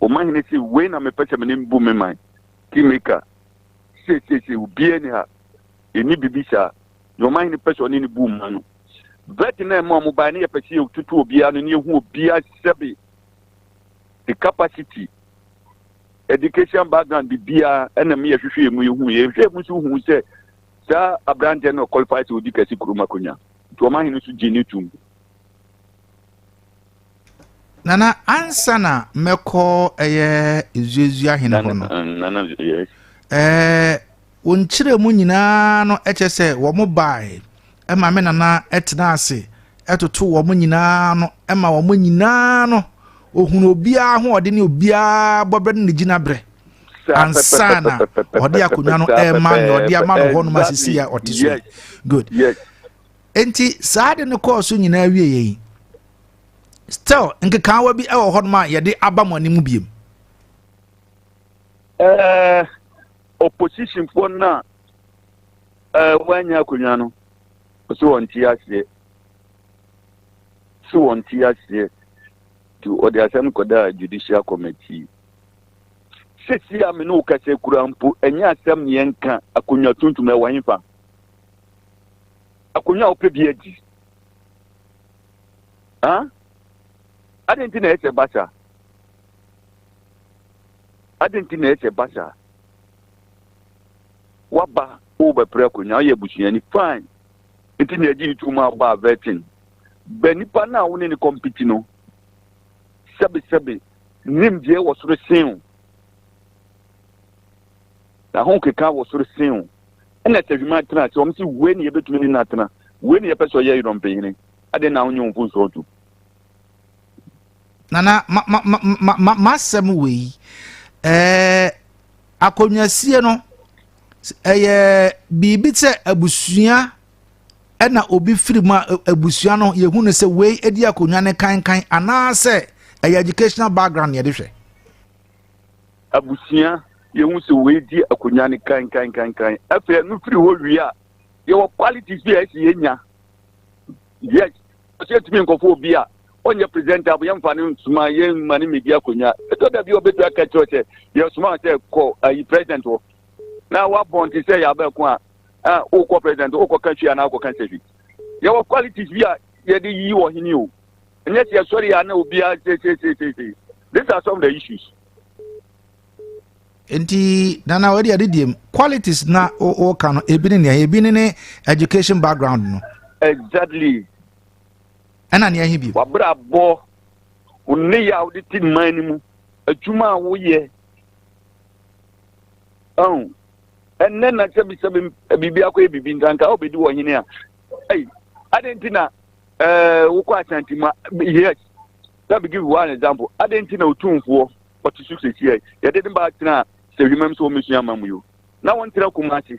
Ɔmanhene se, Wei na mepɛ sɛ me ne no bu me man, Kingmaker. Seesei se, obiara nni ha. Enni biribi saa. Nea ɔmanhene pɛ sɛ ɔne no bu man no. Virgin a ɛma wɔbae no, yɛpɛ sɛ yɛtutu obiara ano na yɛhu obiara sɛbe, ne capacity, education background, biribiara, ɛna me yɛhwehwɛ yɛn mu yɛhu. Yɛhwɛ mu nso hu sɛ saa aberanteɛ no ɔqualify sɛ ɔdi Kasi kurom akonnwa. Nti ɔmanhene nso gyee no tom. Nana, ansa na mɛkɔ ɛyɛ Ezuazua hene hɔ no, ɛɛ wɔnkyerɛ mu nyinaa no ɛkyɛ sɛ wɔn bae ɛma me nana ɛtena ase ɛtoto wɔn nyinaa no ɛma wɔn nyinaa no ohunu obiara ho ɔde ne obiara bɔbrɛ ne ne gyinabrɛ ansa na ɔde akonnwa no ɛma nea ɔde ama no hɔ nom asisi a ɔte so good. Yes. Enti saa ade no kɔɔ so nyinaa wie yɛn. Still, nkekaawa bi wɔ hɔ a yɛde aba mo anim biem. Ɛɛ eh, oppositionfoɔ no a ɛɛ eh, wɔanya akonnwa no, wɔsi wɔn ti aseɛ, si wɔn ti aseɛ, nti wɔde asɛm kɔdaa judicial committee. Sisi a me ne wo kasa kura mpo, ɛnyɛ asɛm ne yɛn ka akonnwa tuntum ɛwɔ hefa. akonnwa a wopɛ bi adi. Adịn nti na ɛyɛ sɛ ɛba saa? Adịn nti na ɛyɛ sɛ ɛba saa? Waba wobɛpere akonnwa, woyɛ abusuani fine. Nti na ɛgye ntu ma aba vetting. Bɛ nipa no a wo ne no kɔmpiti no, sɛbesɛbe nimdeɛ wɔ soro sen o. na ho keka wɔ soro sen wo. Ɛna sɛ hwiman tena ase, wɔn se wei ne yɛbɛtumi ne no atena, wei ne yɛpɛ sɛ ɔyɛ yɛn ɔmpanyini, adɛn na wonyɛ wo mfomsoɔ ntom? Nana, ma, ma, ma, ma, ma, masɛm wei, ɛɛ, akonnwasie no, ɛyɛ biribi sɛ abusua ɛna obi firi mu a abusua no yɛhu no sɛ wei di akonnwa ne kankan anaasɛ ɛyɛ educational background yɛde hwɛ abusua, yɛhu sɛ wei di akonnwa no kankankankan. Afei ɛno firi hɔ wie a, yɛwɔ qualities bi a ɛsɛ yɛnya. Yes, ɔsɛ yɛtumi nkɔfo obi a ɔnyɛ presentable, yɛmfa no nsoma, yɛmma no mmɛdi akonnwa. Ɛtɔ da bi a ɔbɛtumi aka kyerɛ sɛ yɛsoma sɛ kɔ ayi president hɔ na wabɔn te sɛ yɛabɛko a a wokɔ president wokɔka hwi anaa wokɔka sɛ hwi. Yɛwɔ qualities bi a yɛde yi ɔhene o. Ɛnyɛ sɛ yɛsɔre a na obiara sesesesese. These are some of the issues. nti nana wɔde ade diem qualities na wɔka no ebi ne nea ebi ne ne education background no. exactly. ɛna nea ɛhe bi. wabrabɔ ne yɛ a wɔde ti mman no mu adwuma a woyɛ ɔn ɛnɛ na sɛbi sɛbi biribi akɔ yɛ biribi nkanka a wɔbɛdi wɔ hene a ɛyi adan ti na ɛɛ wokɔ asanti mu yes. Let me give one example. Adɛn nti na otumfoɔ ɔte so seesia yi? Yɛde ne ba tenaa sɛ hwimam sɛ wɔmmɛsua ama mu yi o. Na wɔntra Kumasi.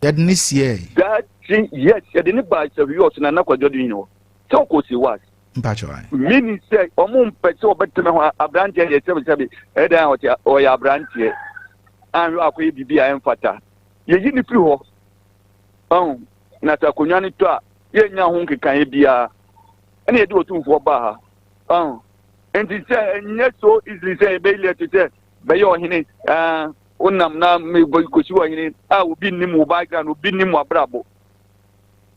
Yɛde ne siɛe. Dati, yes, yɛde ne baa sahwi ɔso na na kwadwo de nyina hɔ. Sɛ ɔkɔ si was. Mpakyɛ wan. Mini sɛ ɔmo mpɛ sɛ ɔbɛtena hɔ abranteɛ deɛ sɛbisɛbi ɛdan a ɔte ɔyɛ abranteɛ anhwɛ akɔyɛ biribi a ɛmfata yɛyi ne firi hɔ ɔn na sɛ akonnwa no tɔ a yɛnya ho nkekaeɛ biara ɛna yɛde otumfoɔ baa ha ɔn nti sɛ ɛnyɛ so easily sɛ yɛbɛyi lɛto sɛ bɛyɛ ɔhene ɛɛ wonam na kɔsi ɔhene a obi nnim wo background obi nnim w'abrabɔ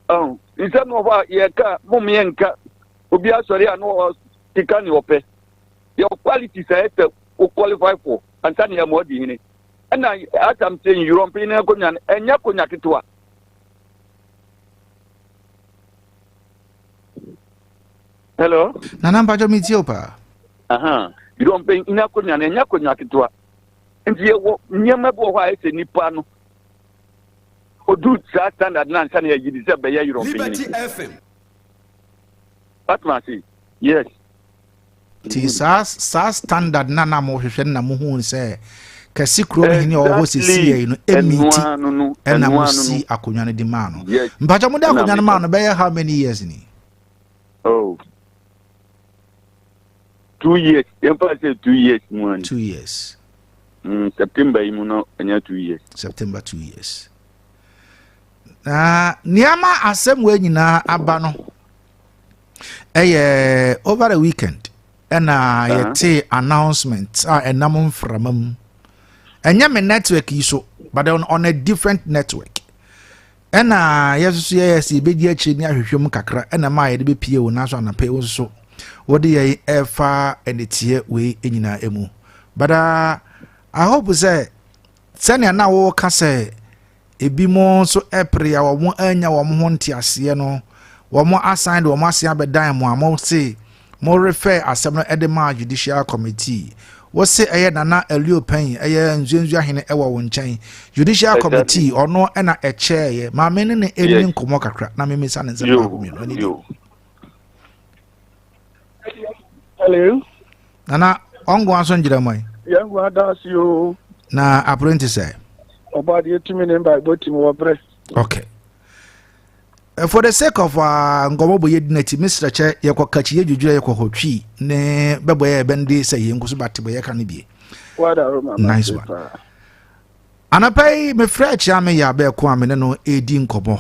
ɔn nsɛm wɔ hɔ a yɛka mom yɛ nka obi asɔre a na ɔkeka ne ɔpɛ your quality sɛ ɛsɛ wo qualify for ansa ne yɛma ɔdi hene ɛna asam sɛ nyurɔmpe ne akonnwa no ɛnyɛ akonnwa ketewa hello nana mpakyɛ metie wo paa yɛdɔ mpanyin akonnwa no ɛnyɛ akonnwa ketewa nti yɛwɔ nneɛma bi wɔ hɔ a ɛsɛ nipa no odu saa standard no ansa na yɛyi de sɛ bɛyɛ yerɔ mpanyin watoma ase yes Nti saa saa standard no a na mohwehwɛ no na muhuu sɛ kɛse kurom hene a ɔwɔ hɔ sesiyɛ yi no ɛmi nti ɛna mosi akonnwa no de maa no mpakyɛ mode akonnwa no maa no bɛyɛ how many years ni oh. two years yɛmfa sɛ two years mu ani two years mm, september yi mu no ɛnyɛ two years september two years na nneɛma asɛm wɔ nyinaa aba no ɛyɛ over the weekend ɛna uh-huh. yɛte announcement a ɛnam mframa mu ɛnyɛ me network yi so but on, on a different network ɛna yɛsoso yɛyɛ sɛ yɛbɛdi akyire ne ahwehwɛ mu kakra ɛna ma yɛde bɛpie wo nanso anapɛ wo nso wode yɛn ɛfa ɛneteɛ wei nyinaa mu but uh, i hope sɛ sɛnea na woka sɛ Ebinom nso pere a wɔannya wɔn ho nteaseɛ no, wɔasan de wɔn ase abɛdan mo a mose morefɛɛ asɛm no de maa Judicial Committee. Wose ɛyɛ Nana Elio Pɛnyi, ɛyɛ Nzuenzua hene wɔ wo nkyɛn. Judicial Committee, ɔno na ɛkyɛɛeɛ. Ma me ne no nni nkɔmmɔ kakra na memmisa no nsɛm baako mmienu. Ɛno ni. Hello. Nana, ɔngo aso ngyerɛ mɔ yi. Yɛn ngu adaase yoo. Na apere nti sɛ. Ɔbɔ adeɛ tumi ne mba ɛbɔ tumi wɔ brɛ. Okay. Eh, for the sake of ah, nkɔmɔ bɔ yɛ di n'akyi mesrɛ kyɛ yɛkɔ kakyi yɛ dwudwura yɛkɔ hɔ twi ne bɛbɔ yɛ ɛbɛn de sɛ yɛn nkoso bate bɔ yɛ ka no bie. Nice one. Anapa yi mefrɛ akyia me yɛ abɛɛko a me ne no ɛredi nkɔmɔ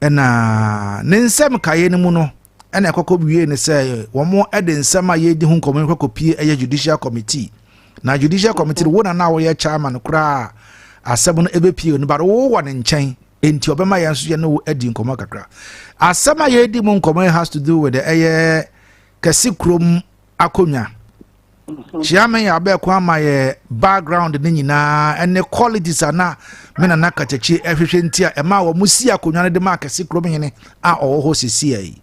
ɛna ne nsɛm kaeɛ no mu no. ɛna ɛkɔkɔ wiee ne sɛ wɔn de nsɛm a yɛredi ho nkɔmɔ kɔ kɔpie ɛyɛ judicial committee na judicial committee no wo na na wɔyɛ chairman koraa asɛm no ɛbɛpie no bade wo wɔ ne nkyɛn nti ɔbɛma yɛn nso yɛne wo adi nkɔmɔ kakra asɛm a yɛredi mu nkɔmɔ has to do with ɛyɛ kɛse kurom akonwa. Kyia me abɛko ama yɛ background ne nyinaa ɛne qualities a na me nana kakyakyi ɛhwehwɛ nti a ɛma wɔn si akonwa no de ma akɛse kurom hene a ɔwɔ hɔ sisi yi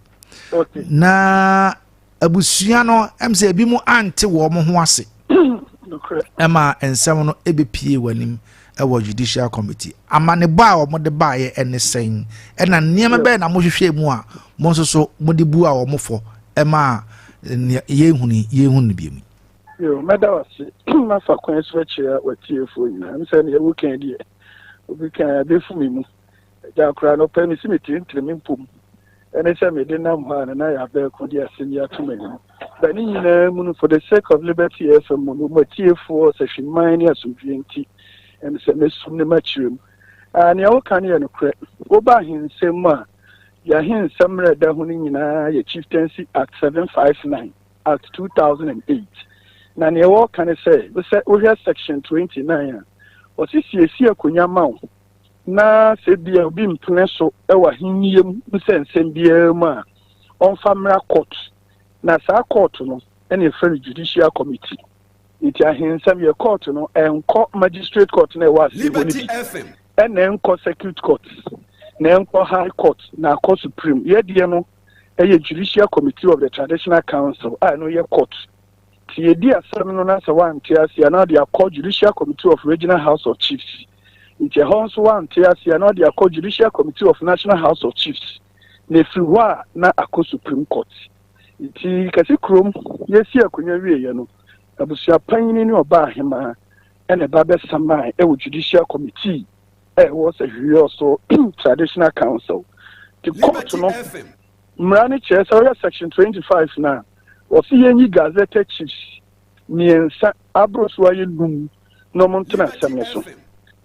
na abusua no ɛm sɛ ebi mu ante wɔn ho ase ɛma nsɛm no ɛbɛpie wɔn anim. wɔ Judicial Committee. Amanebɔ a wɔde baeɛ ne sɛn, ɛna nneɛma bɛn na mohwehwɛɛ mu a mo nso so mode bua wɔn fɔ maa nea yɛnhunu yi, yɛnhunu no bio yi? Yo, mɛda wo ase. Mɛfa kwan so akyerɛ w'atiefoɔ nyinaa. Ɛm sɛ deɛ woka yi deɛ, obi ka a, ɛbɛfu me mu. Agya koraa no ɔpɛ mesi me tirintirim mpo mu ɛne sɛ mede nam hɔ a na na yɛabɛɛ ko de asɛm yi ato m'anim. Ba ne nyinaa mu no for the sake of Liberty FM mu no mo atiefoɔ ɔsahwiman ne asomdwoeɛ nti ɛne sɛ mɛsum ne makyerɛ mu. Aah nea woka no yɛ nokorɛ. Woba ahensɛm mu a deɛ ahensɛm mmerɛ da ho no nyinaa yɛ Chieftaincy Act 759, Act 2008. Na nea wɔreka ne sɛ wosɛ wohwɛ section 29 a ɔse siesie akonya ma wo na sɛ bia obi mpene so wɔ ahenni mu nsɛnsɛm biara mu a, ɔmfa mmra court. Na saa court no na yɛfrɛ no judicial committee. Nti ahensɛm yɛ court no ɛnkɔ magistrate court na ɛwɔ ase hɔ no bi, ɛna ɛnkɔ circuit court, na ɛnkɔ high court, na akɔ supreme. Yɛdeɛ no ɛyɛ judicial committee of the traditional council a ɛno yɛ court. Nti yɛdi asɛm no na sɛ wante aseɛ a na ɔde akɔ Judicial Committee of Regional House of Chiefs. Nti ɛhɔ nso wante aseɛ a na ɔde akɔ Judicial Committee of National House of Chiefs. Na ɛfiri hɔ a na akɔ Supreme Court. Nti kɛse kurom yɛsi akonya wieɛ no, abusua panyini ne ɔbaa hemaa ɛna ɛba bɛsamae ɛwɔ Judicial Committee a ɛwɔ Sahwihwɛ Ɔso Traditional Council. Nti kɔɔto no. Mmara no kyerɛ sɛ woyɛ Section 25 no a, wɔse yɛnyi Gazetteer Chiefs mmiɛnsa aboro so ayɛ num na wɔn ntena asɛm no so.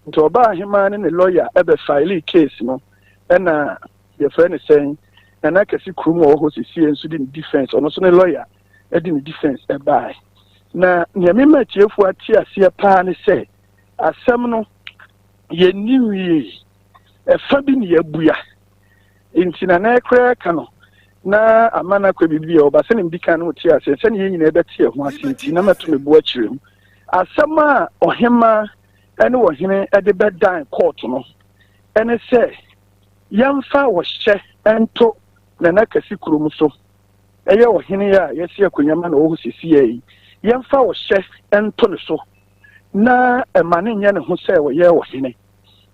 Nti ɔbaa ahemaa ne ne lɔya bɛ filee case no ɛna yɛfrɛ no sɛn, Nana Kɛse Krum a ɔwɔ hɔ sesie nso de ne defence, ɔno nso ne lɔya de ne defence ɛbaae. Na nea mema atiefoɔ ate aseɛ paa ne sɛ asɛm no yɛnni nwiei, ɛfa bi ne yɛabua. nti na na ɛkoraa ka no na ama no akɔ biribi a ɔba sɛ ne mdi kan no te aseɛ sɛne yɛn nyinaa bɛte ɛho ase nti na mɛto me bo akyerɛ mu asɛm a ɔhema ne ɔhene de bɛdan kɔɔto no ɛne sɛ yɛmfa ɔhyɛ nto nana kɛse kurom so ɛyɛ ɔhene a yɛsi akonnwa ma na ɔwɔ hɔ sisiɛ yi yɛmfa ɔhyɛ nto ne so na ɛma ne nyɛ ne ho sɛ ɔyɛ ɔhene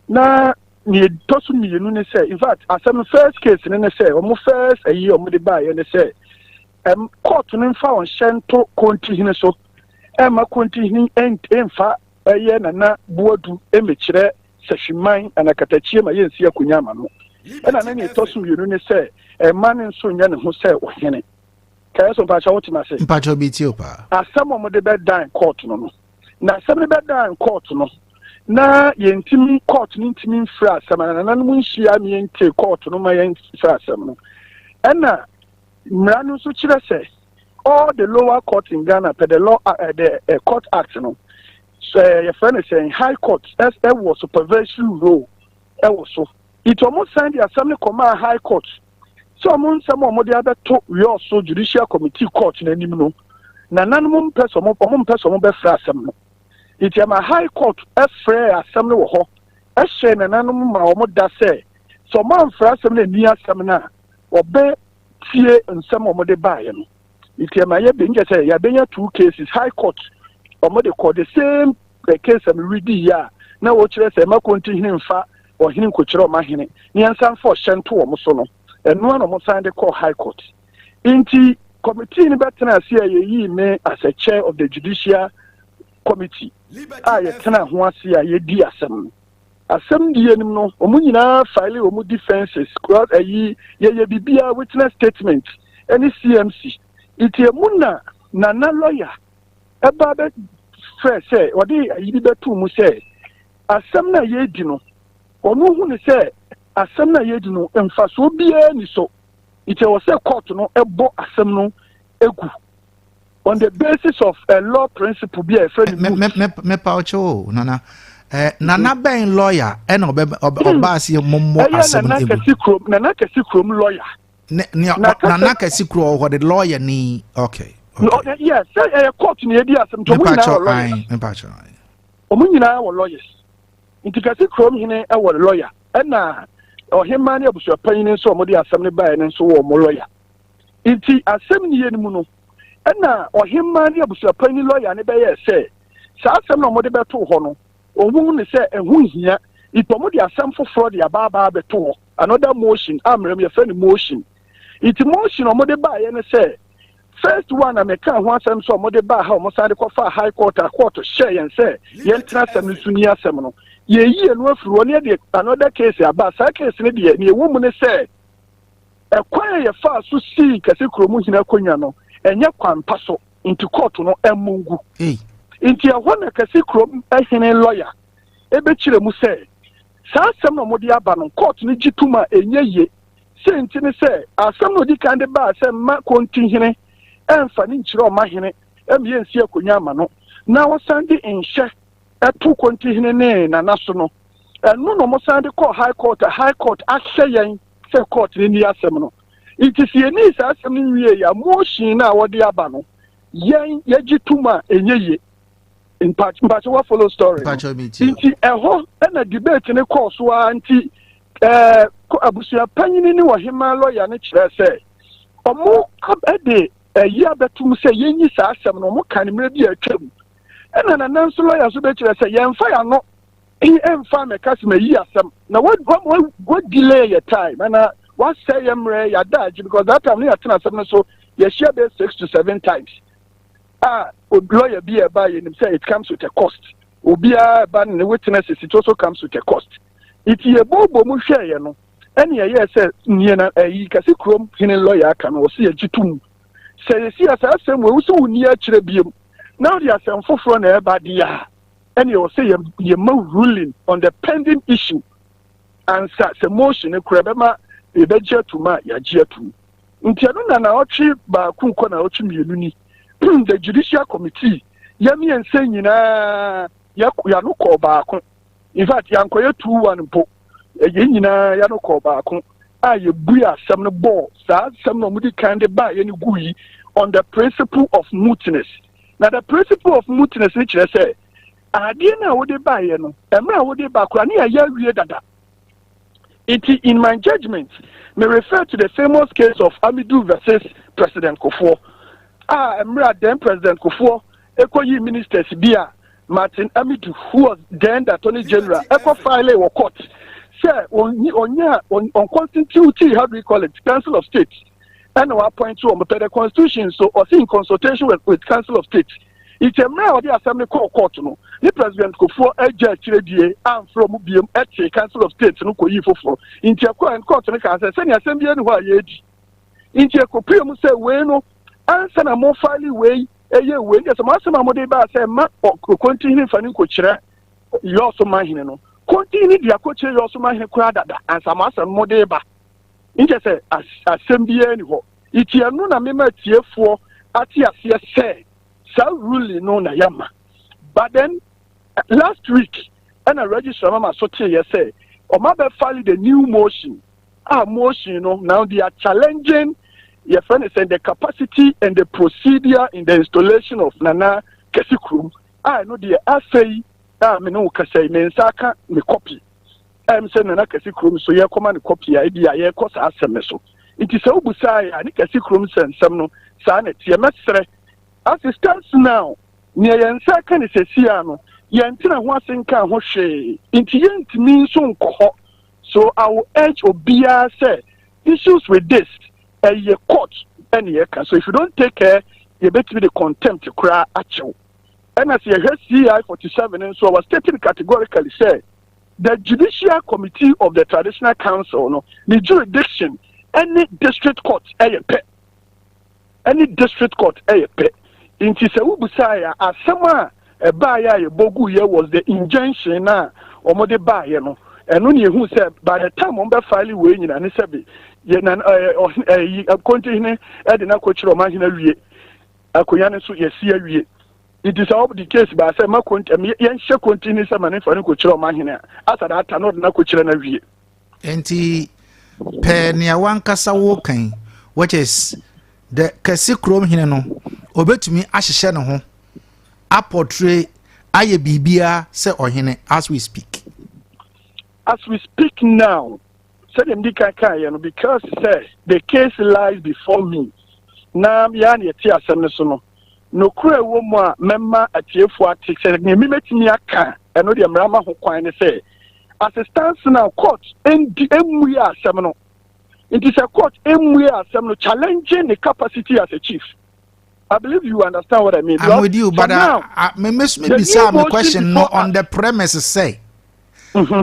na nea ɛtɔ so mmienu ne sɛ in fact asɛm no first case no ne sɛ wɔn first ayi wɔn de baeɛ ne sɛ ɛm court no mfa wɔn hyɛ nto kontihene so ɛmma kontihene ɛmfa ɛyɛ nana buadu ɛmɛkyerɛ sahwiman anakatakyie ma yɛnsi akonya ama no ɛna ne nea ɛtɔ so mmienu ne sɛ ɛma no nso nyɛ ne ho sɛ ɔhene kɛyɛ so mpakyɛ wote no ase mpakyɛ bi tie paa asɛm wɔn de bɛdan court no no na asɛm no bɛdan kɔɔto no na yɛntumi kɔɔto no ntumi mfiri asɛm no nananom nhyia ne yɛntie kɔɔto no ma yɛmfiri asɛm no ɛna mmara no nso kyerɛ sɛ all the lower court in ghana pɛ the law uh, the uh, court act no so uh, yɛfrɛ no sɛ high court ɛwɔ supervisory role ɛwɔ so nti wɔn san de asɛm no kɔmaa high court sɛ wɔn nsɛm a wɔde abɛto Wiɔso Judicial Committee Court no anim no, nananom mpɛ sɛ wɔn wɔn mpɛ sɛ wɔbɛfrɛ asɛm no. Enti ɛma High Court frɛɛ asɛm no wɔ hɔ hyɛɛ nananom ma wɔn da sɛ sɛ wɔamfrɛ asɛm no anni asɛm no a, wɔbɛtie nsɛm a wɔde baeɛ no. nti ɛma yɛ bɛnyɛ sɛ yɛbɛnya two cases high court wɔn de kɔ the same eh, case a meredi yɛ a na wɔkyerɛ sɛ ɛma konti hene mfa ɔhene nkokyerɛ ɔma hene ne yɛnsan fa ɔhyɛ nto wɔn so no ɛnoa na wɔn san de kɔ high court nti committee no bɛtena ase a yɛyii me as a chair of the judicial committee a yɛtena ho ase a yɛdi asɛm no asɛmdi anim no, wɔn nyinaa file wɔn defences, kura ayi yɛyɛ biribiara witness statement ne CMC. Nti emu na Nana lawyer ɛba bɛ frɛ sɛ ɔde ayi bi bɛto mu sɛ asɛm no a yɛredi no wɔn hu no sɛ asɛm no a yɛredi no mfasoɔ biara ni so. Nti ɛwɔ sɛ court no ɛbɔ asɛm no egu. on the basis of a law principle bi a yɛfrɛ no moot. mepa ɔkyɛ o nana eh, nana mm-hmm. bɛn lawyer ɛna ɔba aseɛ mmɔmmɔ asɛm no ɛmu nana kɛse kurom lawyer nana kɛse kuro ɔhɔ de lawyer ni okay yes sɛ ɛyɛ court na yɛdi asɛm nti ɔmo nyinaa wɔ lawyers ɔmo nyinaa wɔ lawyers nti kɛse kurom hene ɛwɔ lawyer ɛna ɔhemaa ne abusuapanyin nso a wɔde asɛm no baeɛ no nso wɔ wɔn lɔya nti asɛm niyɛ no mu no ɛna ɔhemmaa ne abusuapan ne lɔya no bɛyɛɛ sɛ saa asɛm na wɔde bɛtoo hɔ no wɔhu ne sɛ ɛho hia nti wɔde asɛm foforɔ de abaabaa bɛto hɔ another motion a mmerɛm yɛfrɛ no motion nti motion a wɔde baeɛ no sɛ first one na meka ho asɛm sɛ wɔde baa ha wɔsan de kɔfaa high court a court hyɛɛ yɛn sɛ yɛntena asɛm no so ni asɛm no yɛyi ɛno afiri hɔ ne yɛde another case aba saa case no deɛ ne ɛwɔ mu ne sɛ Ɛkwan a yɛfaa so sii Kɛse Kurom Hene akonnwa no, ɛnyɛ kwan pa so, enti kɔɔto no ammɔ ngu. Enti ɛhɔ na Kɛse Kurom Hene lɔya bɛkyerɛɛ mu sɛ, saa asɛm no a wɔde aba no, kɔɔto no gye tom a ɛnyɛ yie. Sei nti ne sɛ, asɛm no a ɔdi kan de baa sɛ mma Konti Hene mmfa ne nkyerɛ ɔma hene ma yɛnsi akonnwa mma no, na wɔsan de nhyɛ to Konti Hene ne Nana so no, ɛno na wɔsan de kɔɔ High Court a High Court ahyɛ yɛn sɛ court no ni asɛm no nti sɛ yɛnii saa asɛm no nwie yɛ a motion no a wɔde aba no yɛn yɛgye tom a ɛnyɛ ye mpakyɛ wa follow story nti ɛhɔ ɛna debate no kɔɔ so ara nti ɛɛ abusua panyini ne ɔhemaa lɔya no kyerɛ sɛ ɔmo ɛde ɛyi abɛtum sɛ yɛnyi saa asɛm no ɔmo ka ne mmerɛ bi a atwam ɛna nana nso lɔya nso bɛkyerɛ sɛ yɛnfa yɛn ano Ti ɛmfa mɛka sɛ mayi asɛm na wa wa wa wa delay yɛ time ana wasɛ yɛ mmerɛ yɛ adaagye because that time ne yɛatena asɛm no so yɛhyia bɛyɛ six to seven times a lawyer bi a ɛba yɛnim sɛ it comes with a cost obiara ɛba ne witness it also comes with a cost nti yɛbɔɔbɔ mu hwɛeɛ no ɛne ɛyɛ sɛ nneɛ na ɛyi kɛse kurom hene lawyer aka no ɔsɛ yɛgye to mu sɛ yɛsi asɛ asɛm wɔ wo sɛ wo nni akyerɛ biom na wode asɛm foforɔ na ɛba deɛ a ɛne ɛwɔ sɛ yɛma ruling on the pending issue ansa sɛ motion no kora bɛma yɛbɛgye atum a yɛagye atum nti ɛno na naɔtwe baako kɔ naɔtwe mmienu ni the judicial committee yɛmiɛnsa nyinaa yɛano kɔɔ baako in fact yɛankɔyɛ two one mpo yɛn nyinaa yɛano kɔɔ baako a yɛbue asɛm no bɔɔ saa asɛm na ɔmode kan de baa yɛne gu yi on the principle of mootness Na the principle of mootness no kyerɛ sɛ adeɛ no a wode baeɛ no, mmerɛ a wode ba koraa ne yɛayɛ awie dada. Nti in my judgment, me refer to the famous case of Amidu versus President Kofoɔ a mmerɛ a then President Kofoɔ ɛkɔyii ministers bi a Martin Amidu who was then the Attorney General ɛkɔ file wɔ court sɛ ɔnyɛ ɔnconstitute how do you call it Council of State ɛna wɔapɔinte wɔn pɛ the constitution so ɔsi in consultation with, with council of state nti mmerɛ a ɔde asɛm no kɔɔ court no ne president kofoɔ agya akyire die amfrɛ mu biem ɛte council of state no kɔyii foforɔ nti ɛkɔɔ court no kaa sɛ sɛnea asɛm bi ani hɔ a yɛredi nti ɛkɔpue mu sɛ wei no ansa na mofale wei ɛyɛ wei nti sɛ mo asɛm a mode baa sɛ ma ɔkonti hene fa no nkɔkyerɛ yɔɔso ma hene no konti hene de akɔkyerɛ yɔɔso ma hene koraa dada ansa mo asɛm mode ba nkyɛ sɛ asɛm biara ni hɔ. Iti ɛno na mema atiefoɔ ate aseɛ sɛ saa ruling no na yɛma. But then last week ɛna registrar mama so teeɛ sɛ ɔma bɛ file the new motion a motion no now they are challenging your friend is in the capacity and the procedure in the installation of Nana Kesi Krum. I know the afei a me no kasa me nsa aka me copy. ɛm sɛ nana kɛse kurom so yɛkɔma no kɔpi a ebi a yɛkɔ saa asɛm no so nti sɛ wobu saa yɛ a ne kɛse kurom sɛ nsɛm no saa na ɛteɛ mɛsrɛ assistance now nea yɛn nsa aka ne sɛsi a no yɛntena ho ase nka ho hwee nti yɛntumi nso nkɔ hɔ so I will urge obiara sɛ issues with this ɛyɛ court ɛne ɛka so if you don't take care yɛbɛtumi de contempt koraa akyɛw Ɛna sɛ yɛhwɛ CI forty seven nso a, wɔ state no categorically sɛ the judicial committee of the traditional council no ne jurisdiction ɛne district court ɛyɛ pɛ ɛne district court ɛyɛ pɛ nti sɛ wobusaeɛ a asɛm a ɛbaeɛ a yɛbɔ guiɛ was the injunction no a wɔde baeɛ no ɛno ne yɛhu sɛ by the time wɔn bɛfile wei nyina ne sɛ bi yɛnan ɛyi kɔntihene ɛde no akɔkyerɛ ɔman hene awie Akonwa no nso yɛasi awie. Nti sɛ wɔde case baa sɛ ma konti ɛm yɛnhyɛ konti ne sɛ ma ne nfa no kɔkyerɛ ɔma hene a, asa da ata na ɔde no akɔkyerɛ no awie. Nti pɛ nea wankasa woka yi which is the kɛse kurom hene no ɔbɛtumi ahyehyɛ ne ho apɔtre ayɛ biribiara sɛ ɔhene as we speak. As we speak now. sɛdeɛ medi kan kaeɛ no because sɛ the case lies before me na yɛa na yɛte asɛm no so no nokorɛ ɛwɔ mu a mɛma atiefoɔ ate sɛ deɛ mi mɛtumi aka ɛno deɛ mmara ma ho kwan ne sɛ as it stands now court ndi mmue asɛm no nti sɛ court mmue asɛm no challenging the capacity as a chief I believe you understand what I mean. I'm with you, but uh, now, uh, me, me, me, me, me question no on the premise say, mm-hmm.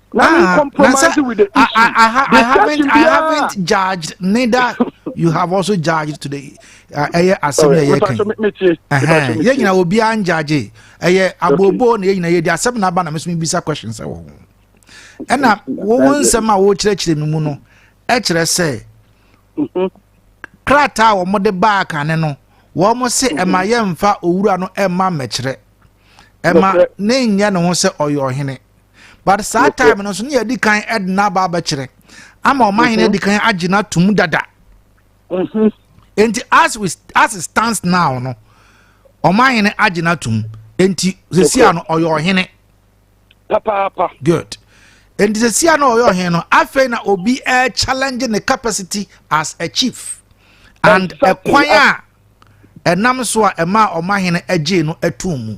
Let ah, me compromise it with the issue. I, I, ha, I haven't, I haven't judged. Neither you have also judged today. Uh, ɛyɛ asɛm yɛ yɛ kan. Yɛ nyina obi an judge. Ɛyɛ abobo na yɛ nyina yɛ di asɛm na aba na mesumi bisa questions ɛwɔ ho. Ɛna wɔn nsɛm a wɔkyerɛkyerɛ mi mu no ɛkyerɛ sɛ mm-hmm. krataa a wɔde baa kane no wɔn se ɛma mm-hmm. yɛ nfa owura no ɛma mmɛkyerɛ ɛma ne nyɛ ne ho sɛ ɔyɛ ɔhene. but saa time no nso ne yɛdi kan de n'aba abɛkyerɛ ama ɔma hene mhm. adi kan agye no atom dada mhm. nti as we as it stands now no ɔma hene agye no atom nti sesia no ɔyɛ ɔhene papaapa good nti sesia no ɔyɛ ɔhene no afei na obi uh, challenge ne capacity as a chief and ɛkwan a ɛnam so a ɛma ɔma hene agye no atom mu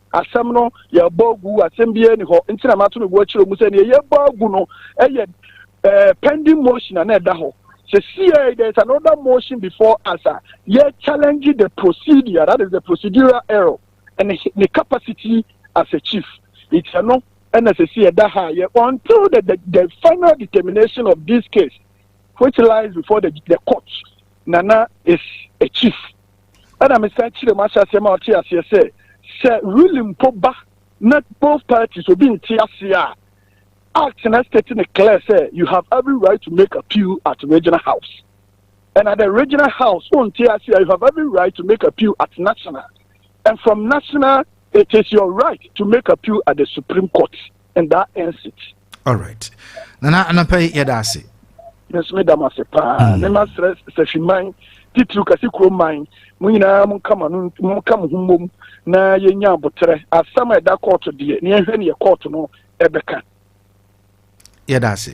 asɛm no yɛbɔ agu asɛm biara ni hɔ nti na mato me bo akyerɛ mu sɛ nea yɛbɔ agu no yɛ eh, pending motion a na ɛda hɔ sɛsiɛ there is another motion before us a yɛ challenge the procedure that is the procedural error and the capacity as a chief nti ɛno ɛna sɛsiɛ ɛda ha yɛ until the, the, the final determination of this case which lies before the, the court nana is a chief ɛna mesan kyerɛ mu ahyɛ aseɛ ma ɔte aseɛ sɛ sɛ really mpo ba na both parties obi nte aseɛ a act na state ne clear sɛ you have every right to make appeal at regional house and at the regional house wonte aseɛ you have every right to make appeal at national and from national it is your right to make appeal at the supreme court and that ends it. all right nana anapa yi yɛda ase nso meda mo ase paa mm. ne ma srɛ safiman titiriw kase kuro man mo nyinaa monka mo ano monka mo ho mmom na yɛnya aboterɛ asɛm a ɛda kɔɔto deɛ ne yɛhwɛ ne yɛ kɔɔto no ɛbɛka yɛda ase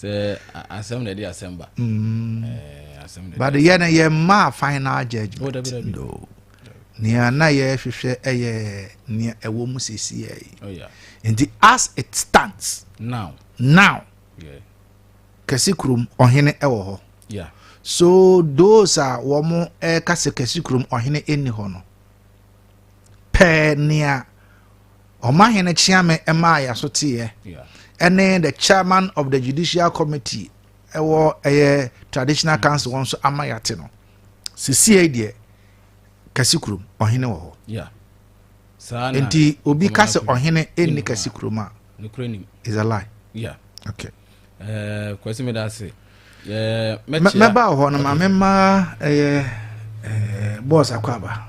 sɛ asɛm na ɛde asɛm ba mm. eh, but yɛ no yɛmmaa final judgment oh, no nea na yɛhwehwɛ ɛyɛ nea ɛwɔ mu sesiɛ yi oh, nti as it stands now now yeah. kɛse kurom ɔhene ɛwɔ hɔ yeah. so those a wɔn ɛka sɛ kɛse kurom ɔhene ɛnni hɔ no pɛɛ nea Ɔmahene Kyeame maa yɛn so teeɛ ne the chairman of the judicial committee ɛwɔ ɛyɛ traditional mm. council wɔn nso ama yɛate no sesie deɛ kasi kurom ɔhene wɔ hɔ nti obi ka sɛ ɔhene ɛnni kasi kurom a is a lie yeah. okay. uh, kwasi meda ase mɛba wɔ hɔ no ma mema ɛyɛ eh, bɔs akɔ aba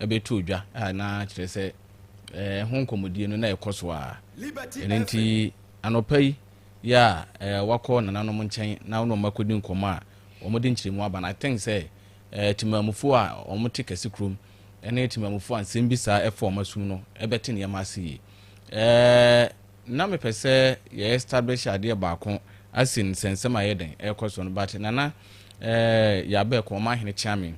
bɛtoo dwa a na kyerɛ sɛ ɛho nkɔmmɔdie no na ɛkɔ so ara. Ɛno nti anɔpa yi yɛ a wakɔ nananom nkyɛn na ɔne wɔn akɔdi nkɔmmɔ a wɔde nkyerɛmu aba no. I think sɛ Temanmufoɔ a wɔte Kɛse Kurom ne Temanmufoɔ a nsɛm bi saa fa wɔn asom no bɛte nneɛma ase yie. na mepɛ sɛ yɛ establish adeɛ baako asi no sɛ nsɛm a ɛyɛ dɛn ɛrekɔ so no but Nana eh, Yabɛ kɔn m'ahene kyea me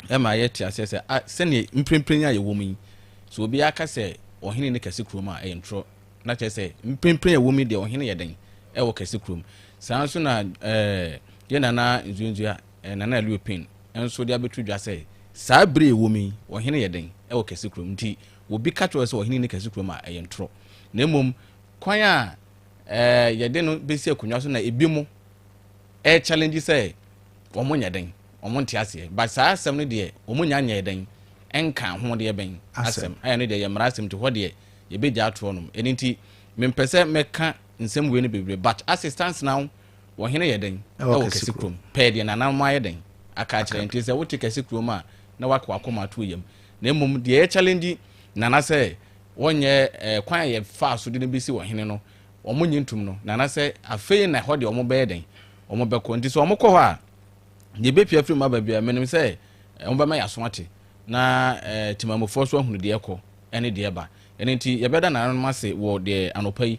ɛma yɛ te aseɛ sɛ ah, sɛdeɛ mprempren a yɛwɔ mu yi so obiara ka sɛ ɔhene ne kɛse kurom a ɛyɛ ntorɔ na kyerɛ sɛ mprempren a ɛwɔ mu deɛ ɔhene yɛ dɛn ɛwɔ kɛse kurom saa nso na eh, yɛ Nana Nzuenzua eh, Nana Elio Pin nso de abɛto dwa sɛ saa bere a ɛwɔ mu yi ɔhene yɛ dɛn ɛwɔ kɛse kurom nti obi ka kyerɛ wo sɛ ɔhene nni kɛse kurom a, ɛyɛ ntorɔ. Na mmom, kwan a eh, yɛde no bɛsi akonnwa so na ebi mo eh, challenge sɛ wɔn nyɛ dɛn, wɔn nte aseɛ. But saa asɛm no deɛ, wɔn nya nyɛɛ dɛn nka ho deɛ bɛn asɛm. Ɛyɛ no deɛ, yɛ mmara asɛm nti hɔ deɛ, yɛbɛgya atorɔ nom. Ɛno nti, mempɛ sɛ mɛka nsɛm wei no bebree. But as it stands now, ɔhene yɛ dɛn wɔ kɛse kurom? Pɛɛ deɛ nananom ayɛ dɛn aka akyerɛ? Nti sɛ wote kɛse kurom a, na woaka w'akoma ato yam. na mmom deɛ yɛ challenge Nana sɛ wɔnyɛ eh, kwan a yɛfaa so de no bɛsi ɔhene no wɔn nye ntum no Nana sɛ afei na hɔ deɛ wɔn bɛyɛ dɛn wɔn bɛkɔ nti sɛ wɔn kɔ hɔ a deɛ ɛbɛpia firi mu aba bia menim sɛ eh, wɔn bɛma yɛaso ate na eh, timamufoɔ so ahunu deɛ ɛkɔ ɛne deɛ ɛba ɛno nti yɛbɛda nananom ase wɔ deɛ anɔpa yi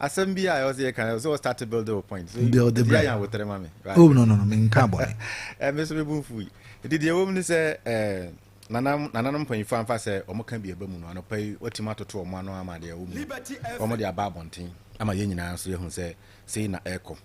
Asɛm bi a ɛwɔ sɛ yɛka sɛ wɔ start build wo point. So build the brand. Yɛn abotere ma me. Right. Oh no no no, me nka bɔne. Eh me so me bu mfu yi. Enti deɛ ɛwɔ mu ne sɛ eh nanam nananom mpanyinfoɔ amfa sɛ wɔn ka bi ɛba mu no anɔpa yi wɔtumi atoto wɔn ano ama deɛ ɛwɔ mu wɔn de aba abɔnten ama yɛn nyinaa nso yɛhu sɛ sei na ɛrekɔ.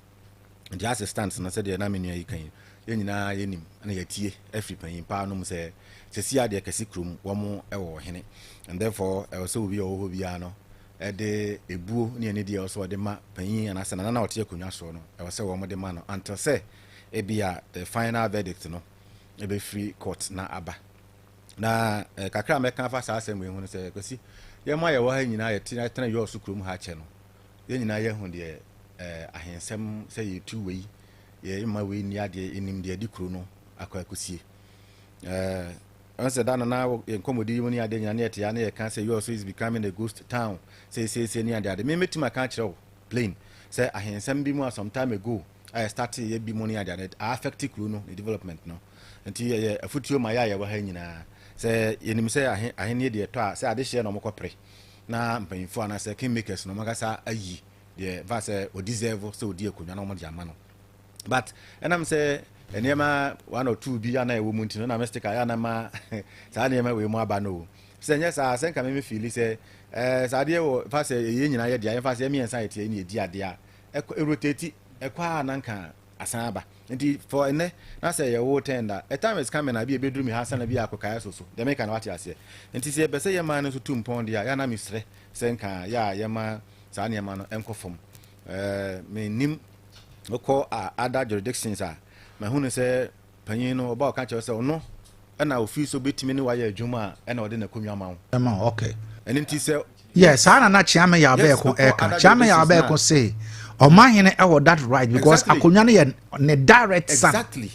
Glass stunts no sɛdeɛ na me nua yi ka yi, yɛn nyinaa yɛnim na yɛatie afiri panyin paa no mu sɛ sɛsi adeɛ kɛse kurom wɔn wɔ ɔhene and therefore ɛwɔ sɛ obi a ɔwɔ hɔ biara no ɛde ebuo ne anidie ɛwɔ sɛ ɔde ma panyin anaasɛ nana na ɔte akonnwa soɔ no ɛwɔ sɛ wɔn de ma no until sɛ ebi a the final verdict no ɛbɛfiri court na aba na eh, kakra a mɛka afa saa asɛm wei ho no sɛ kwasi yɛn mu a yɛwɔ ha nyinaa yɛtena yɛtena yɔɔ so kurom ha kyɛ no Yɛn nyinaa yɛahu deɛ ɛɛ ahensɛm sɛ yɛtu wei, yɛmma wei nni adeɛ, yɛnim deɛ ɛde kuro no akɔ akɔsie. Ɛɛ ɛn sɛ da no na yɛn nkɔmmɔdi yi mu ne adeɛ nyinaa ne yɛte ya ne yɛka sɛ US is becoming a ghost town seesiesie ne adeɛ adeɛ. Me mɛtumi aka akyerɛ wo plain sɛ ahensɛm bi mu a some time ago a yɛstate yɛ bi mu ne adeɛ adeɛ a affect kuro no ne development no. Nti ɛyɛ afutuo ma yɛ a yɛwɔ ha nyinaa sɛ yɛnim sɛ ahennie deɛ ɛtɔ a sɛ adehyeɛ na wɔkɔpere. na mpanyimfo anaasɛ kingmakers no wɔn ankasa ayi deɛ ɛfa sɛ o deserve sɛ odi akonnwa na wɔde ama no but ɛnam sɛ nneɛma one or two bi a na ɛwɔ mu nti no na me sticker yɛ anama saa nneɛma wei mu aba no o sɛ nyɛ saa sɛ nka meme fiili sɛ ɛɛ saa adeɛ wɔ fa sɛ ɛyɛ nyinaa yɛ deɛ yɛmfa sɛ yɛmmiɛnsa yɛteɛ ne ɛdi adeɛ a ɛkɔ ɛrotati ɛkɔ a na nka asan aba. Ntsi for ndɛ na sɛ yɛwo wo tɛn da a, a time is coming a bi a ebeduru me ha ansa na bi a akokae aso so. Dza mereka no wɔatse aseɛ? Ntsi sɛ yɛpɛ sɛ yɛma no so tu mpɔn deɛ a, yɛ a na meserɛ sɛ nka yɛ a yɛma saa nneɛma no nkɔ fam. Ɛɛ, mennim, mekɔ a other jurisdictions a, mahunu sɛ, panyin no, ɔba a ɔka kyerɛ wo sɛ ɔno na ofii so betumi ne wayɛ adwuma a ɛna ɔde n'akonnwa ma wo. Ɛma ɔkɛ. Ɛno nti sɛ. Yɛ saa na na Kyeame Yabɛɛko ɛka. Kyeame Yabɛɛko se ɔmahene ɛwɔ that right because akonnwa no yɛ ne direct son. Exactly.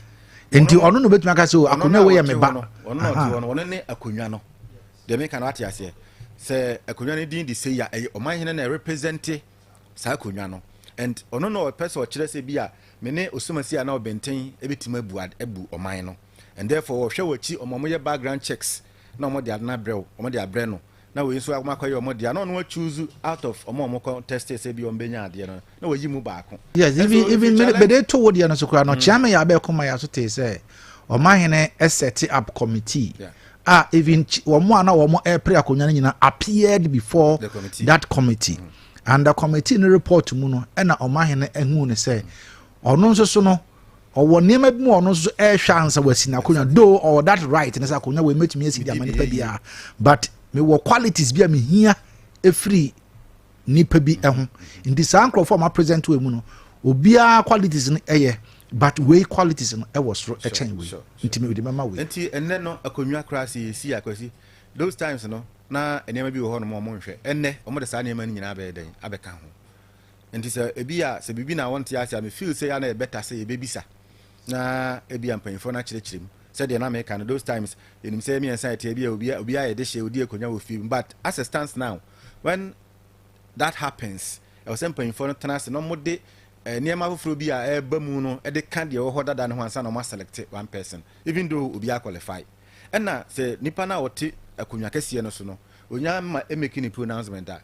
Nti ɔno na obetumi aka sɛ oh, akonnwa wei yɛ me ba. Ɔno na ɔte hɔ no, ɔno ne akonnwa no. Deɛ meka no ate aseɛ. Sɛ akonnwa no din de sei a, ɛyɛ ɔmahene na ɛrepresente saa akonnwa no and ɔno na ɔpɛ sɛ ɔkyerɛ sɛ bi a me ne Osumasi a na ɔbɛnten bɛtumi abu abu ɔman no and therefore wɔhwɛ wɔ akyi ɔma wɔyɛ background checks na wɔde ade no abrɛ wo wɔde abrɛ no na wei nso wɔn akɔyɛ wɔn deɛ na ɔno achuuzu out of wɔn a wɔn kɔ test sɛ bi wɔn bɛnya adeɛ no na wɔyi mu baako. yes even even mede to wo deɛ no so koraa no mm. kyeame yɛ abɛɛko ma yɛ aso tee sɛ ɔmahene ɛsɛte up committee. Yeah. a even wɔn a na wɔn ɛrepere akonnwa no nyinaa appeared before committee. that committee mm. and the committee no report mu no ɛna wɔn ahene ehu ne sɛ ɔno nso so no ɔwɔ nneɛma bi mu ɔno nso ɛrehwɛ ansa wɔasi n'akonnwa though ɔwɔ that right ne sɛ akonnwa wɔ emetumi asi di ama nipa biara but mewɔ qualities bi a mehia efiri. nipa bi ho nti saa nkurɔfo a wɔapresent wɔ mu no obiara qualities no ɛyɛ but wei qualities no ɛwɔ soro ɛkyɛn wei nti mede mɛma wei. nti ɛnnɛ no akonnwa koraa sɛ yɛsi akwasi those times no na nneɛma bi wɔ hɔ nom ɔmo nhwɛ ɛnnɛ ɔmo de saa nneɛma no nyinaa bɛyɛ dɛn abɛka ho nti sɛ ebi a sɛ biribi na wɔnte ase a me feel sɛ yɛ na yɛbɛta sɛ yɛbɛbisa na ebi a mpanyinfoɔ no akyerɛkyerɛ mu sɛdeɛ na meka no those times yɛnim sɛ mmiɛnsa ɛteɛ bi a obi a yɛde hyɛ odi akonnwa wɔ fie mu but as a stance now When that happens, ɛwɔ sɛ mpanyimfoɔ no tena ase na wɔde nneɛma foforɔ bi a ɛreba mu no de ka deɛ ɛwɔ hɔ dada no ho ansa na wɔn asɛlɛkte one person, even though obiara qualify. Ɛna sɛ nipa no a ɔte akonnwa kɛseɛ no so no, ɔnya ma ɛmeki ne pronouncement a,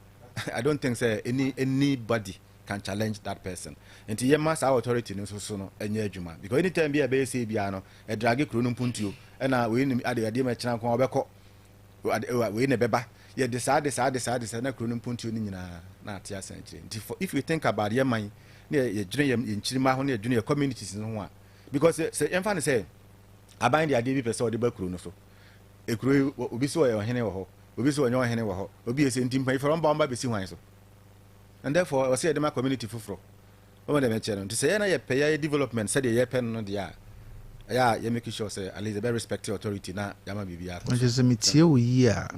I don't think sɛ any anybody can challenge that person. Nti yɛma saa authority no nso so no nyɛ adwuma because anytime bi a ɛbɛyɛ sei biara no, ɛdrage kuro no mpuntuo. Ɛna wei nim adeɛ adeɛ ma ɛkyena nko a ɔbɛkɔ. wei na ɛbɛba yɛde saa de saa de saa de saa na kuro no mpontuo no nyinaa na ate asɛn akyire nti for if you think about yɛ man na yɛdwene yɛ yɛ nkyirima ho na yɛdwene yɛ communities no ho a because sɛ yɛmfa no sɛ aban de adeɛ bi pɛ sɛ ɔde ba kuro no so ekuro yi obi so ɔyɛ ɔhene wɔ hɔ obi so ɔnyɛ ɔhene wɔ hɔ obi yɛ sɛ nti mpanyinfoɔ ɔmba ɔmba bɛsi hwan so and therefore ɔsɛ yɛde ma community foforɔ Wɔma deɛ mɛkyɛ no nti sɛ yɛ na yɛpɛ yɛayɛ development sɛdeɛ yɛpɛ no no deɛ a ɛyɛ a yɛ make sure sɛ at least yɛbɛ respect authority na yɛama biribiara akɔ so. Ɛkyɛ sɛ metie wo yie a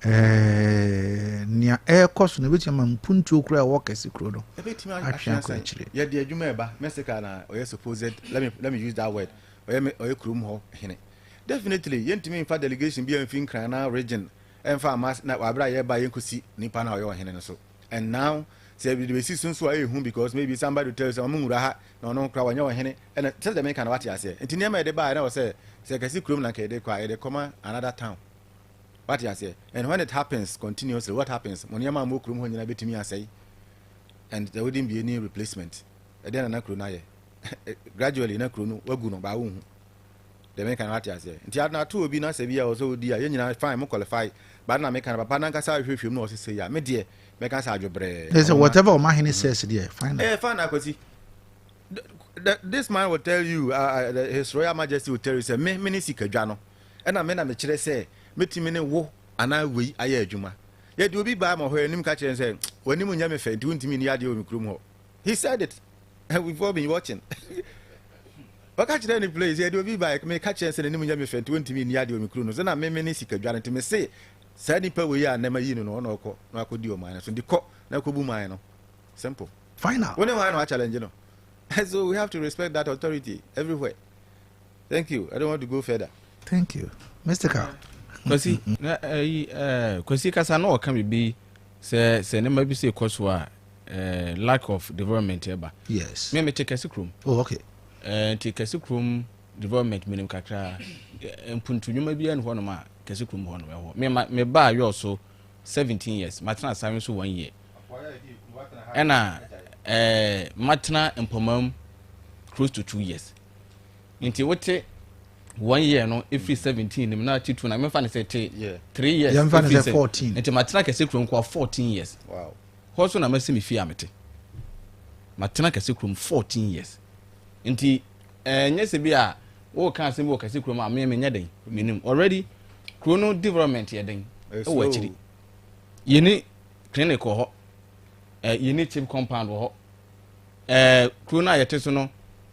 ɛɛ nea ɛrekɔ so no ɛbɛtumi ama mpuntuo kura ɛwɔ kɛse kuro no atwe akɔ akyire. Yɛde adwuma ɛba Mexica na ɔyɛ supposed let me let me use that word ɔyɛ ɔyɛ kurom hɔ hene definitely yɛntumi nfa delegation bi a mfi nkran na region ɛnfa ama na wabere a yɛba yɛnkɔsi nipa na ɔyɛ ɔhene no so. and now sɛ de bɛsi so nso a ɛyɛ hu because maybe somebody will tell you sɛ ɔmo nwura ha na ɔno kora wɔnyɛ ɔhene ɛna sɛ deɛ meka no wate aseɛ nti nneɛma yɛde baa ɛna wɔ sɛ sɛ kɛse kurom na nka yɛde kɔ a yɛde kɔma another town wate aseɛ and when it happens continuously what happens mo nneɛma a mo kurom hɔ nyinaa bɛtumi asɛe and there wouldn't be any replacement ɛdeɛ na na kuro no ayɛ gradually na kuro no wagu no baa wo hu Deɛ meka no wate aseɛ nti ade no ato obi na sɛ bi a ɔwɔ sɛ ɔdi a yɛn nyinaa fine mo qualify but na meka no papa no ankasa ahwehwɛ mu na ɔse sei a me deɛ mɛka sɛ adwobrɛɛ na wɔma whatever ɔma hene says deɛ fine na ɛyɛ fine na Kwasi this man will tell you uh, his royal majesty will tell you sɛ me mene sikadwa no ɛna me na mekyerɛ sɛ mɛtumi ne wo anaa wei ayɛ adwuma yɛde obi baa ma hɔ anim ka kyerɛ sɛ w'anim nyɛ me fɛ nti wontumi ni adeɛ wɔ me kurom hɔ he said it we've all been watching ɔka kyerɛ ne place yɛde obi baeɛ meka kyerɛ sɛ n'anim nyɛ me fɛ nti wɔntumi nni adeɛ wɔ me kuro no sɛ na meme ne sika dware nti mese saa nipa wei a nnɛma yi no no ɔna ɔkɔ na akɔdi ɔman no so nti kɔ na kɔbu man no simple final wo ne hwan na wachallenge no so we have to respect that authority everywhere Thank you. I don't want to go further. Thank you. Mystical. Kwasi, na ayi eh, eh, Kwasi kasa na ɔka biribi sɛ sɛ nneɛma bi sɛ ɛkɔ so a eh, lack of development ɛba. Yes. Me mete kɛse kurom. Oh, okay. Eh, nti kɛse kurom development menim kakra eh, mpuntu nnwuma biara ne hɔnom a kɛse kurom hɔ no ɛhɔ. Me ma me baa yɔɔ so 17 years, matena asawe nso one year. Ɛna eh, matena mpɔmam close to two years. nti wote one year no efiri seventeen nim na titun na mefa ne sɛ te three years yɛmfa ne sɛ fourteen nti matena kɛse kurom kɔ fourteen years wow hɔ so na masi me fie a mete matena kɛse kurom fourteen years nti ɛnyɛ eh, sɛ bi a wɔka asɛm bi wɔ kɛse kurom a meɛ menyɛ den menim already kuro no development yɛ den ɛwɔ akyiri yɛni clinic wɔ hɔ eh, yɛni chip compound wɔ hɔ eh, kuro no a yɛte so no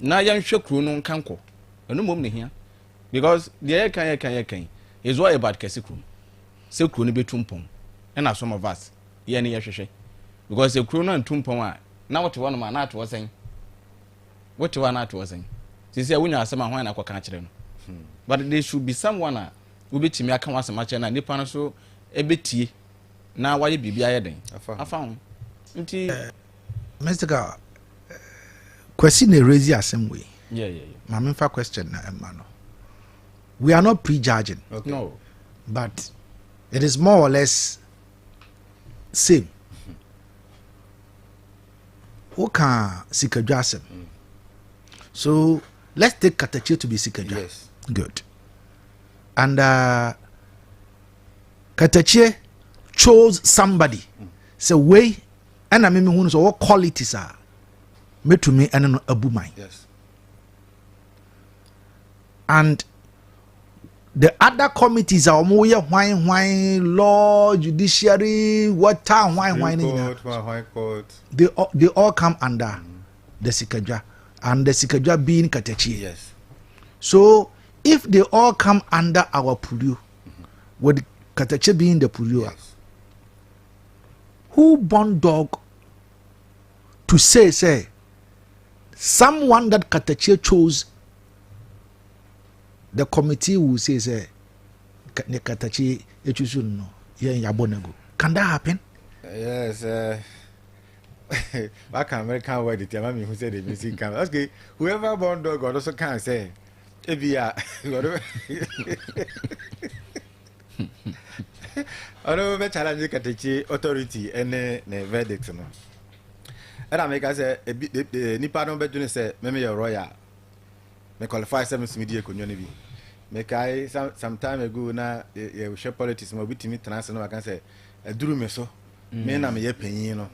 na yɛnhwɛ kuro no nka nkɔ ɛno mmom na ehia because deɛ yɛka yɛka yɛka yi is all about kɛse kuro no sɛ kuro no bɛtu mpɔn ɛna some of us yɛn no yɛhwehwɛ because sɛ kuro no antu mpɔn a na wote hɔ nom a na ate hɔ sɛn wote hɔ a na ate hɔ sɛn sisi a wonya asɛm a hwan na akɔka akyerɛ no hmm. but there should be someone a wobɛtumi aka ho asɛm akyerɛ no a nipa no so ɛbɛtie na wayɛ biribi ayɛ den afa ho nti eh, mystical Kwasi na erezi asɛm wei. Yeah, yeah, yeah. Ma me nfa question na ɛma no. We are not prejudging. Okay. No. But it is more or less same. Woka sikadwa asɛm. Mm. So let's take Katakye to be sikadwa. Yes. Good. And uh, Katakye chose somebody. Mm. So we ɛna me mehu no sɛ ɔwɔ qualities a mɛtumi ɛne no abu man and the other committees a wɔn yɛ hwan hwan law judiciary water hwan hwan ne nyinaa they all they all come under mm. the sikadwa and the sikadwa being katakyi yes. so if they all come under our purio mm -hmm. with katakyi being the purio yes. who born dog to say sɛ someone that katakyie chose the committee will say sɛ ne katakyie etusu no yɛn yabɔ no agu can that happen. yes uh, waka american word ti ama mi hu sɛ de mi si kan okay whoever born dog ɔno so kan sɛ ebi a ɔno. Ɔno bɛ challenge katakye authority ne ne verdict no. Ɛna meka sɛ ebi e, e, nipa no bɛdwene sɛ meme yɛ royal. Me qualify sɛ mesumi di akonnwa no bi. Mekae some some time ago na yɛhwɛ politics ma obi tumi tena ase na waka sɛ aduru me so. Mm. Me na meyɛ panyin no.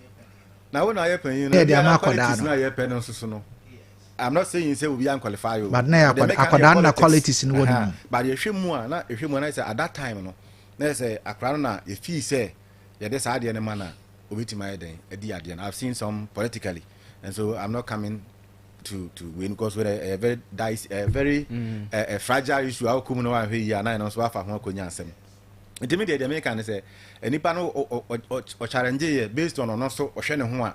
Na wo na ayɛ panyin no. Ɛde ama akɔdaa no. Na yɛpɛ no nso so no. I'm not saying say obi an qualify o. But na yɛ akwadaa akwadaa na qualities no wɔ ne mu. But yɛhwɛ mu a na yɛhwɛ mu a na yɛ sɛ at that time no na yɛ sɛ akwadaa no na yɛ feel sɛ yɛde saa adeɛ no ma na obetumi ayɛ dɛn adi adeɛ no I've seen some politically and so I'm not coming to to wei no because wei ɛyɛ very dice ɛyɛ very ɛɛ mm. eh, eh, fragile issue a okɔ mu na wahwɛ yie a na yɛn no nso wafa ho akɔnya asɛm ntumi deɛ deɛ meka ne sɛ nipa no ɔkyarɛngye yɛ based on ɔno so ɔhwɛ ne ho a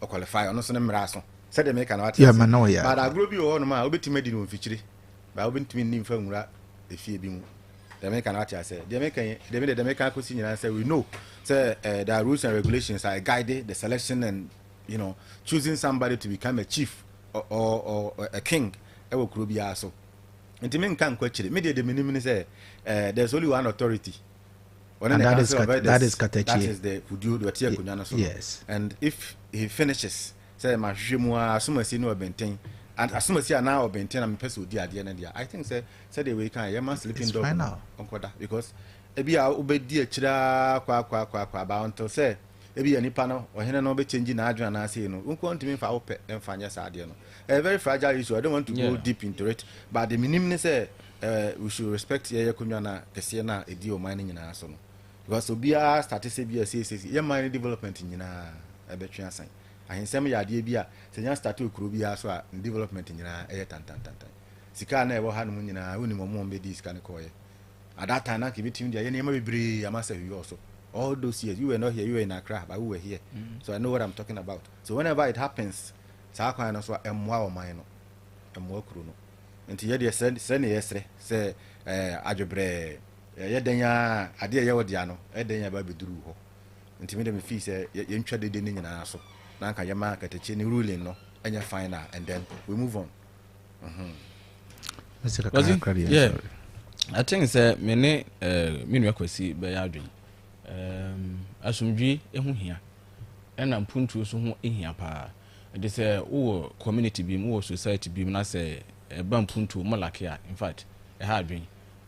ɔqualify ɔno nso ne mmara so sɛdeɛ meka no wate ase but agorɔ bi wɔ hɔ nom a wobɛtumi adi no wɔ mfikyire but wobɛntumi nni mfa nwura efie bi mu deɛ meka no wate ase deɛ meka yi deɛ mede deɛ meka akɔsi nyinaa sɛ we know sɛ uh, there are rules and regulations are guided the selection and you know choosing somebody to become a chief or, or, or a king ɛwɔ kuro biara so nti menka nkɔ akyire medeɛ deɛ menim ne sɛ uh, there's only one authority Ɔne ne council of elders. That is katakyie. That is the fuduo deɛ ɔte akonnwa no so no. Yes. And if he finishes sɛ mahwehwɛ mu ara asomasie ne ɔbɛnten asomasie anaa ɔbɛnten na mepɛ sɛ ɔdi adeɛ no deɛ I think sɛ sɛdeɛ wei kan yɛma sleeping dog no ɔnkɔda because ebi a wobɛdi akyire ara kwaakwaakwaakwa ba until sɛ ebi yɛ nipa no ɔhene no bɛkyɛngyi n'adwene anaasei no wo nkoa ntumi mfa wopɛ mfa nyɛ saa adeɛ no ɛyɛ very fragile issue I don't want to go deep into it but de menim ne sɛ Eh we should respect yɛyɛ konwa na kɛseɛ na ɛdi ɔman no nyinaa so no because obiara starte sɛ bi a sei sei yɛ man no development nyinaa ɛbɛtwe asan ahensɛm yɛ adeɛ bi a sɛ nya starte okuro biara so a ne development nyinaa ɛyɛ tantantantan sika a na ɛwɔ ha nom nyinaa wonim ɔmo ɔmo bɛdii sika no kɔɔyɛ at that time na nka ebɛtumi de ayɛ nneɛma bebree ama sɛ hwiyɔ so all those years you were not here you were in Accra but we were here mm. so I know what I'm talking about so whenever it happens saa kwan no so a ɛmmoa ɔman no ɛmmoa kuro no Nti yɛ deɛ srɛ srɛ ne yɛ srɛ sɛ ɛɛ adwobrɛɛ ɛyɛ dɛn aa adeɛ ɛyɛ wo dea no ɛyɛ dɛn aba abɛduru wo hɔ nti me deɛ me fii sɛ yɛ yɛ ntwa dede no nyinaa so na anka yɛ ma katakyi ne ruling no ɛnyɛ final and then we move on mm-hmm. Wɔsi yɛ I think sɛ me ne ɛɛ eh, me nua kwasi bɛyɛ adwene ɛɛm asomdwi ɛho hia ɛna mpuntuo so ho hia paa. Enti sɛ wo wɔ community bi mu, wo wɔ society bi mu na sɛ ɛba mpuntuo, mo lacke a, in fact, ɛha adwene.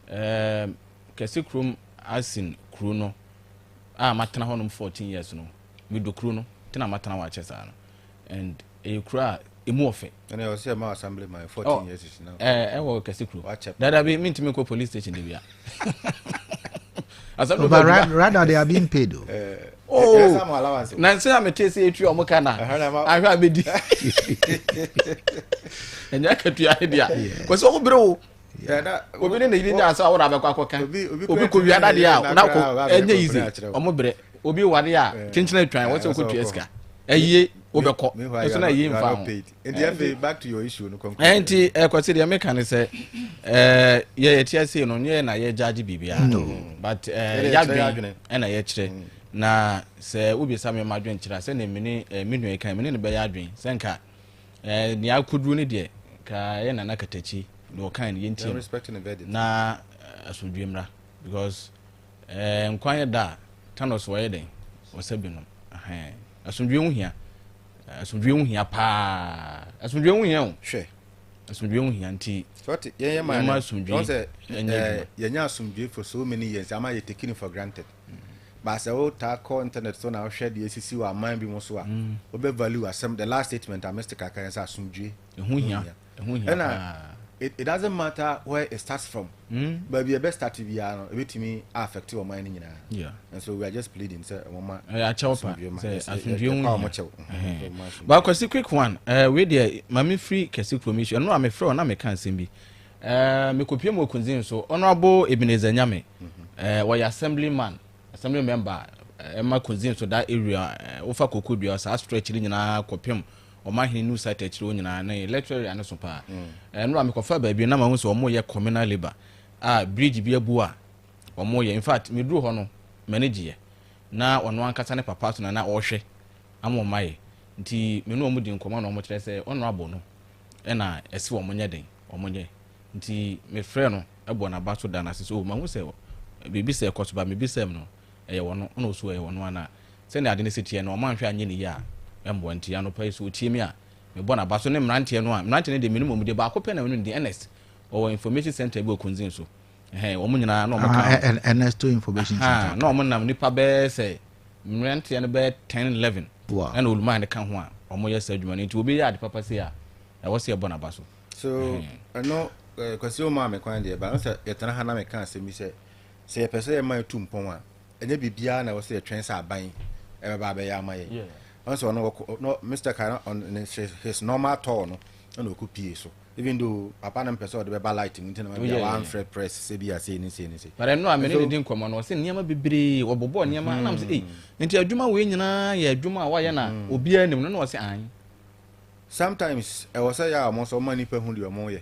Ɛɛm, kɛse kurom asen kuro no a matena hɔ nom 14 years no, me dɔ kuro no, nti na matena hɔ akyɛ saa no. And ɛyɛ kuro a ɛmu wɔ fɛ. Ɛna ɛwɔ sɛ ɛma assembly man 14 years si na. Ɛɛ, ɛwɔ kɛse kuro. Dadabi, mentumi nkɔ police station da bi a. asɛm no ba bi rather they are being paid o. Eh, oh eh, eh, na nsɛn a mete sɛ ɛtua ɔmo ka na ahwɛ a bɛdi ɛnyɛ akatua ne deɛ kɔ sɛ ɔmo berɛ wo obi ne ne yiri nyaa sɛ ɔwɔ na abɛkɔ akɔka obi kɔ wia dadeɛ a na kɔ ɛnyɛ yizi ɔmo berɛ obi wade a kyenkyena atwan wɔsɛ ɔkɔtua sika ɛyie wobɛkɔ ɛso na ɛyie mfa ho nti eh, afei back to your issue no kɔnkɔn. Eh, nti ɛkɔsi eh, deɛ meka ne sɛ eh, yɛ yɛte ase no nyɛ na yɛ gyaagye biribiara mm. mm. but yɛadwene ɛna yɛkyerɛ mm. na sɛ wobisa me ma adwene kyerɛ sɛdeɛ mene me nua kan mene ne bɛyɛ adwene sɛ nka nea akɔduru no deɛ ka yɛ nana katakyi deɛ ɔkan no yɛntie na asomdwe mmra because Ɛɛ nkwa yɛ da a Thanos wɔ yɛ dɛn wɔ sɛ bi nom ɛhɛn asomdwie ho hia asomdwie ho hia paa asomdwie ho hia o hwɛ asomdwie ho hia nti sɔte yɛn yɛ maa no asomdwie sɛ ɛɛ yɛn nyɛ asomdwie for so many years ama yɛ taking for granted mm. baasa wo taa kɔ internet so na wohwɛ deɛ esisi wɔ aman bi mu so a mm. wobɛ value asɛm the last statement a Mr. Kaka yɛn sɛ asomdwie ho hia ɛho hia paa. it doesn't matter where it starts from mm. baabi ɛbɛ start biara no ɛbɛtumi affect wɔn ayɛ no nyinaa yeah. and so we are just pleading sɛ wɔn ma akyɛw pa sɛ asomdwe ho wɔn kyɛw ba kwasi quick one uh, wei deɛ maame firi kɛse kurom issue ɛno a mefrɛ wɔn na meka nsɛm bi uh, mekɔpie mu okunzin so honorable ebenezer nyame uh, wɔyɛ assembly man assembly member ɛma uh, kunzin so that area wofa uh, koko dua saa stretch no nyinaa kɔpem ɔmahene New Site akyire hɔ nyinaa ne Left area no so paa. Ɛno a mekɔfa baabi na mahu sɛ wɔyɛ communal labour a bridge bi abu a wɔyɛ. In fact, meduru hɔ no, m'ani gyeeɛ. Na ɔno ankasa ne papa so na na ɔrehwɛ ama wɔayɛ. Nti me ne wɔn di nkɔmmɔ na wɔkyerɛ sɛ honourable no na ɛse wɔnyɛ den, wɔnyɛ. Nti mefrɛɛ no bɔɔ n'aba so daa no ase sɛ, oh, mahu sɛ biribi sɛ ɛkɔ so, but mebisaa mu no, ɛyɛ ɔno, ɛna ɔsu ɛyɛ ɔno ana? Sɛnea ade no si teɛ no, ɔmanhwɛ anyɛ ne yie a, ɛmmoa. Nti, anɔpa yi, sɛ ɔtie me a, mebɔ n'aba so ne mmeranteɛ no a, mmeranteɛ no deɛ, menim wɔn din, baako pɛ na menim ne din, Ernest, ɔwɔ Information Centre bi wɔ Kunzing so. Ɛhɛn, wɔn nyinaa, na wɔka ho. Ah, Ernesto Information Centre, Ahaa, na okay. wɔn nam nnipa bɛyɛ sɛ, mmeranteɛ no bɛyɛ ten, eleven, Wow. ɛna Olumah no ka ho a, wɔyɛ saa adwuma no. Nti, obi yɛ ade papa sei a, ɛwɔ sɛ yɛbɔ n'aba so. So, Ɛhɛn. ɛno, eh, Kwasi, womaa me kwan deɛ, but ɛno sɛ yɛtena ha na meka asɛm bi sɛ, Sɛ yɛpɛ sɛ yɛma etu mpɔn a, ɛnyɛ biribiara na ɛwɔ sɛ yɛtwɛn sɛ aban bɛba abɛyɛ ama yɛn. Ɔno sɛ ɔno ɔkɔ no Mister Kai no on ne his normal tour no ɛna ɔkɔ pie so even though papa no mpɛ sɛ ɔde bɛba light mu nti na ma bia wamfrɛ press sɛ bia sei ne sei ne sei. But ɛno a me ne no di nkɔmmɔ no ɔsɛ nneɛma bebree wɔbobɔ nneɛma ɛna me sɛ ei nti adwuma wei nyinaa yɛ adwuma a wayɛ na obiara nim no na ɔsɛ ae. Sometimes ɛwɔ sɛ yɛ a wɔn nso wɔma nnipa hu deɛ wɔyɛ.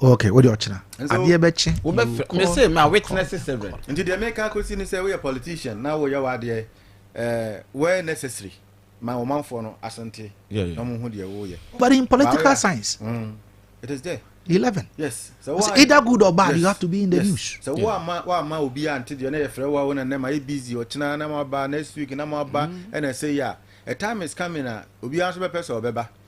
ok wode ɔkyena adeɛ bɛkye mese ma witness seven nti deɛ meka kɔsi ne sɛ woyɛ politician na woyɛ wadeɛ eh, where necessary ma ɔmanfoɔ no asente na ɔmo ho deɛ woyɛ but in political science mm, it is there 11 yes so it's either good or bad yes. you have to be in the yes. news so yeah. wama wama obi ante deɛ na yɛfrɛ wo a wo na nnɛ ma yɛ busy ɔkyena na mo aba next week na mo aba mm. ɛna sɛ yi a a time is coming a obiara nso bɛpɛ sɛ ɔbɛba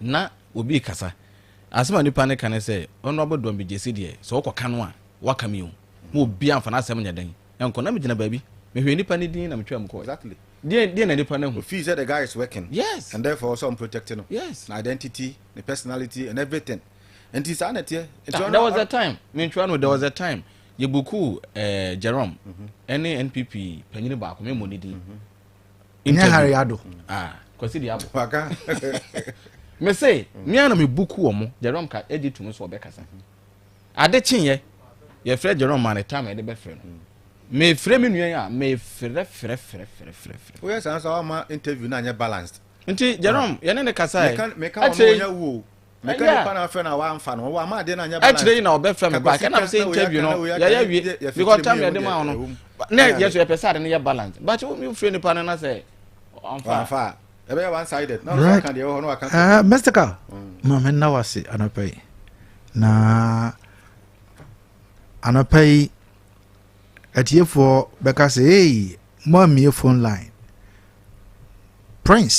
na obi rekasa, asɛm a nipa no reka ne sɛ, Honourable Duambi Gyasi deɛ, sɛ wokɔka no a, woaka me o. Ma obiara mfa n'asɛm nyɛ dɛn nkɔ. Na megyina baabi, mehwɛɛ nipa no din na metwaa mu kɔɔ. Exactly. Deɛn, deɛn na nipa no ahu? Ofii sɛ the guy is working. Yes. And therefore ɔsɛ wɔprotect no. Yes. Ne identity, ne personality and everything. Nti saa na ɛteɛ. Nti ɔno. There was a time, mentwaa no o, there was a time yɛbukuu eh, Jerome ɛne NPP panyini baako, memmɔ ne din. ɛnyɛ hare ado ah, kwasi de abo waka me se me ana me buku wɔ mo jerome ka ɛgye to mu so ɔbɛkasa ade kyenyɛ yɛfrɛ jerome ma ne tam ɛde bɛfrɛ no mefrɛ me nua yi a mefrɛ frɛ frɛ frɛ frɛ frɛ woyɛ saa nso ama interview no anyɛ balanced nti jerome yɛne ne kasa ɛ ɛkyɛ meka nipa na afɛ na wamfa no wama adeɛ no anyɛ balance ɛkyerɛ yi na ɔbɛfrɛ me back ɛnam sɛ interview no yɛyɛ wie because time yɛde ma wo no na yɛ so yɛpɛ sɛ ade no yɛ balance but wofrɛ nipa no na sɛ ɔmfa ɛbɛyɛ one sided na ɔka deɛ ɛwɔ hɔ na waka ah, mystical mm. ma menna wo ase anɔpa yi na anɔpa yi atiefoɔ bɛka sɛ ei moammie phone line prince